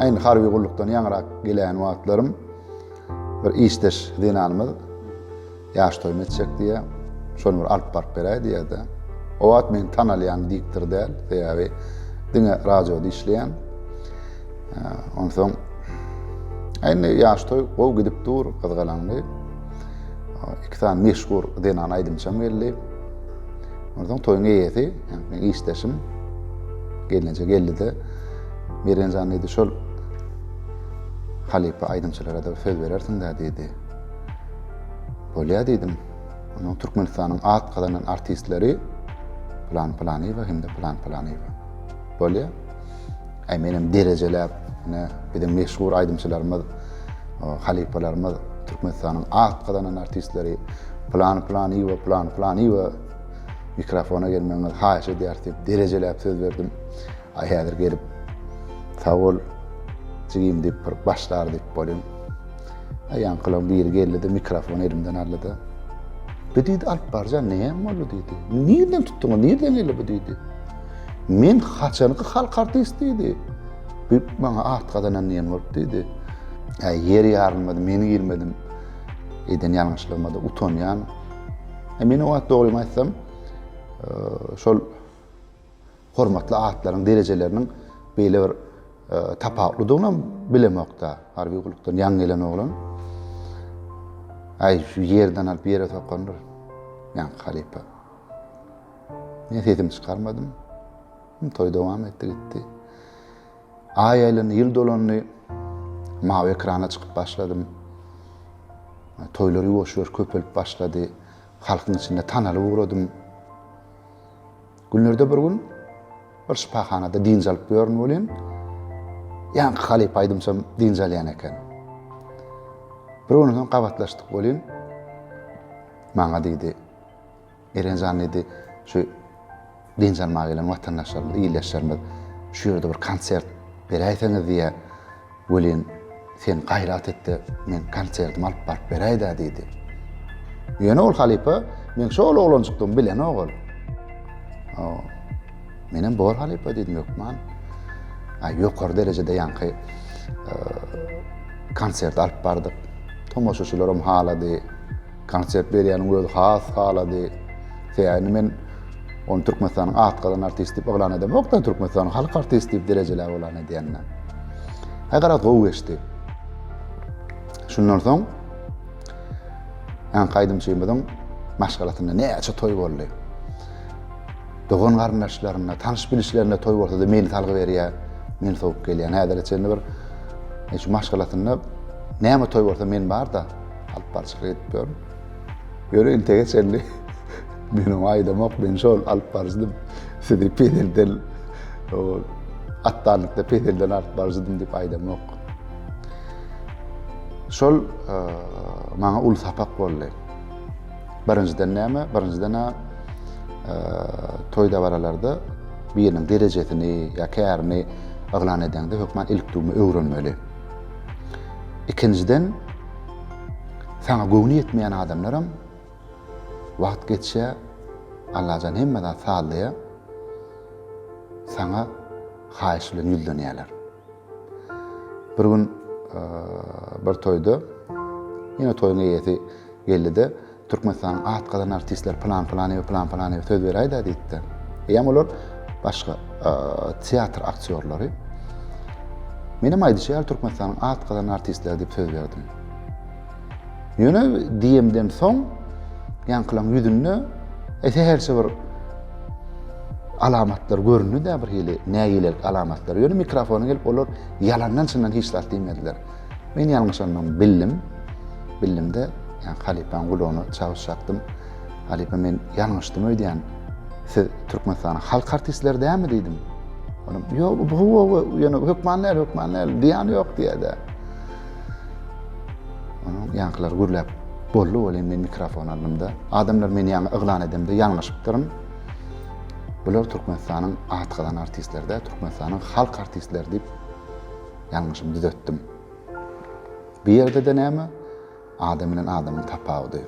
Aýn harby gullukdan ýaňyrak gelen wagtlarym bir işdeş zenanymyz ýaş toýumy etjek diýýär. Şony bir alyp baryp beräý diýýär-de. O wagt meni tanalýan diktor däl, sebäbi diňe radioda işleýän. Onsoň Indi ýaş toý gowy gidip dur, gyzgalaňly. Iki sany meşhur zenan aýdymçam geldi. Ondan toýun eýesi, yani işdeşim gelneje geldi de Mergenjan diýdi, şol halypa aýdymçylara-da söz berersiň-dä diýdi. Bolýa diýdim. Onuň Türkmenistanyň at gazanan artistleri Plan Planyýewa hem-de Plan Planyýewa. Bolýa. Äý menem derejeläp, ine biziň meşhur aýdymçylarymyz, halypalarymyz Türkmenistanyň at gazanan artistleri Plan Planyýewa, Plan Planyýewa mikrofona gelmegiňizi haýyş edýäris diýip derejeläp söz berdim. Ay häzir gelip sag bol jigim diyip bir başlar diyip bolin. Ay yankılan biri geldi de mikrofon elimden aldı da. Bu diydi alıp barcan ne hem oldu diydi. Nirden tuttun o nirden geldi bu diydi. Men haçanki halk artist diydi. Bir bana at kazanan diyen olup diydi. Ay yer yarılmadı meni girmedim. Eden yanlışlığıma da utanyan. E, men o at doğruyum aytsam. E, şol hormatly atlaryň derejeleriniň beýle bir tapawutlydygynam bilemokda harby gullukdan ýaňy gelen oglan aý şu ýerden alyp ýere sokandyr ýaňky halypa men sesimi çykarmadym toý dowam etdi gitdi aý aýlandy ýyl dolandy mawy ekrana çykyp başladym toýlar ýuwaş-ýuwaş köpelip başlady halkyň içinde tanalyp ugradym Günlerde bir gün bir şypahanada dynç alyp ýörün welin, ýaňky halypa aýdymçym dynç alýan eken. Bir gün soň gabatlaşdyk welin, maňa diýdi, Eren jan diýdi, şu dynç almaga gelen watandaşlarymyz, ildeşlerimiz şu ýerde bir konsert beräýseňiz diýýär. Welin, sen gaýrat et-de, men konsertimi alyp baryp beräý-dä, diýdi. Ýöne ol halypa, meň şol oglanjykdygymy bilenok ol. O, menem bor halypa, diýdim, hökman. A, ýokary derejede ýaňky e, konsert alyp bardyk. Tomaşaçylaram halady. Konsert berýäniň özi has halady. Sebäbini men ony Türkmenistanyň atgazan artisti diýip yglan edemok-da, Türkmenistanyň halk artisti diýip derejeläp yglan edýän-de. Aý garaz gowy geçdi. Şundan soň Anka aýdymçymyzyň maşgalasynda näçe toý boldy. Dogan garyndaşlarynda, tanyş bilişlerinde toý bolsa-da meni salgy berýär, men sowup gelýän. Häzire çenli bir şu maşgalasynda näme toý bolsa men bar-da. Alyp barçylyk edip ýörün. Ýöne intege çenli men oňa aýdamok, men şol alyp barjydym. Sizi peýdelden atdanlykda peýdelden alyp barjydym diýip aýdamok. Şol e, maňa uly sapak boldy. Birinjiden näme? Birinjiden e, toý dabaralarda biriniň derejesini ýa kärini yglan edende hökman ilk dugma öwrenmeli. Ikinjiden Saňa göwni ýetmeýän adamlaram wagt geçýä Allajan hemme zat sazlaýa saňa haýyş bilen ýüzlenýäler. Bir gün bir toýda ýene toýuň eýesi geldi-de Türkmenistanyň at gazan artistleri plan plan we plan plan we söz beräýdi diýdi. Eýem olar başga teatr aktýorlary. Men hem aýdyşy ýaly Türkmenistanyň at gazan artistleri diýip söz berdim. Ýöne diýemden soň ýaňkylaň ýüzünde ese herçe bir alamatlar göründi de bir hili nägilelik alamatlar. Ýöne mikrofona gelip olar ýalandan çyndan hiç zat diýmediler. Men ýalňyşandygymy bildim. Bildimde, ýa halypaň gulagyna çagyş çakdym. Halypa men ýalňyşdym öýdýän. Siz Türkmenistanyň halk artistleri dälmi diýdim. Olam, ýok, bu gowy, ýöne hökman däl, hökman däl, diýýän ýok diýýär-de. Onuň ýaňkylary gürläp boldy welin men mikrofon aldymda. Adamlar meni ýaňy yglan edemde ýalňyşypdyryn. Bular Türkmenistanyň at gazan artistleri däl, Türkmenistanyň halk artistleri diýip Ýalňyşymy düzetdim. Bu ýerde-de näme? Adam bilen adamyň tapawudy.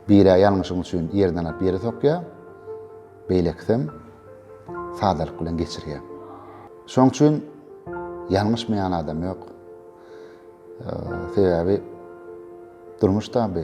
Biri-ä ýalňyşyň üçin ýerden alyp ýere sokýar, beýlekisem sadalyk bilen geçirýär. Şoň üçin ýalňyşmaýan adam ýok. Sebäbi durmuş taby.